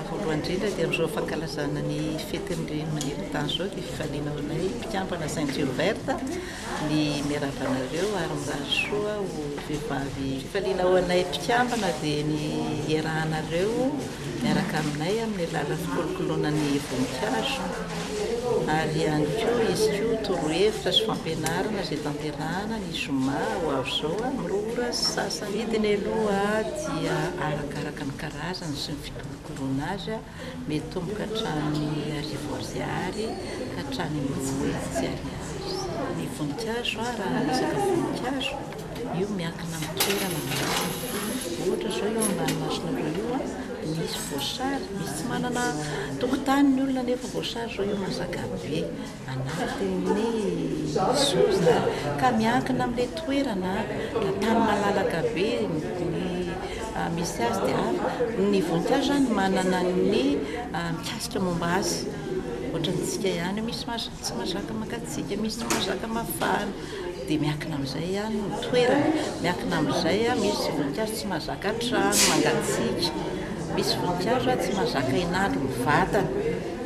Voalohany indrindra dia amin'izao fankalazana ny fetin'ny reny maneran-tany izao dia fifaliana ho anay mpikambana Saint Gilbert ny miarahaba anareo ary mirary soa ho vehivavy. Fifaliana ho anay mpikambana dia ny iarahanareo. miaraka aminay amin'ny alalan'ny fikolokoloana ny voninkazo ary ihany koa izy koa torohevitra sy fampianarana izay tanterahana ny zoma ho avy izao amin'ny roa ora sy sasany. Ny vidiny aloha dia arakaraka ny karazany sy ny fikolokoloana azy, mitomboka hatramin'ny arivo ariary ka hatramin'ny roa hetsy ariary ny voninkazo raha resaka voninkazo. Io miankina amin'ny toerana mihitsy. Ohatra izao io ambany masina be io a, misy voasary, misy tsy manana tokotany ny olona nefa voasary izao io mazaka be anatin'ny sozina ka miankina amin'ilay toerana, raha tany malalaka be ny misy azy dia avy, ny voninkazo izany manana ny mikasika momba azy, ohatrantsika ihany io misy tsy mazaka makatsika, misy tsy mazaka mafana. dia miankina amin'izay ny toerana, miankina amin'izay misy voninkazo tsy mahazaka trano mangatsiaka, misy voninkazo tsy mahazaka hinalo ny vatany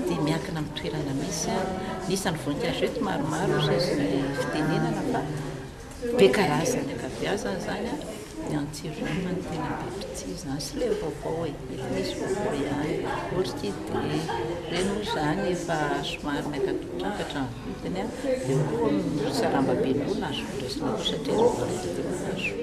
dia miankina amin'ny toerana misy, ny isan'ny voninkazo eto maromaro saingy tsy fitenenana fa be karazany ankabeazany izany. Ny antsiranana no tena be mpitia izany sy ilay vaovao e, mety misy vaovao ihany, orchidée, ireny moa izany efa somary miakatrakatra ny vidiny an, dia koa ny saramba be koa no azoko raisina koa satria ireo koa mety teo kaso.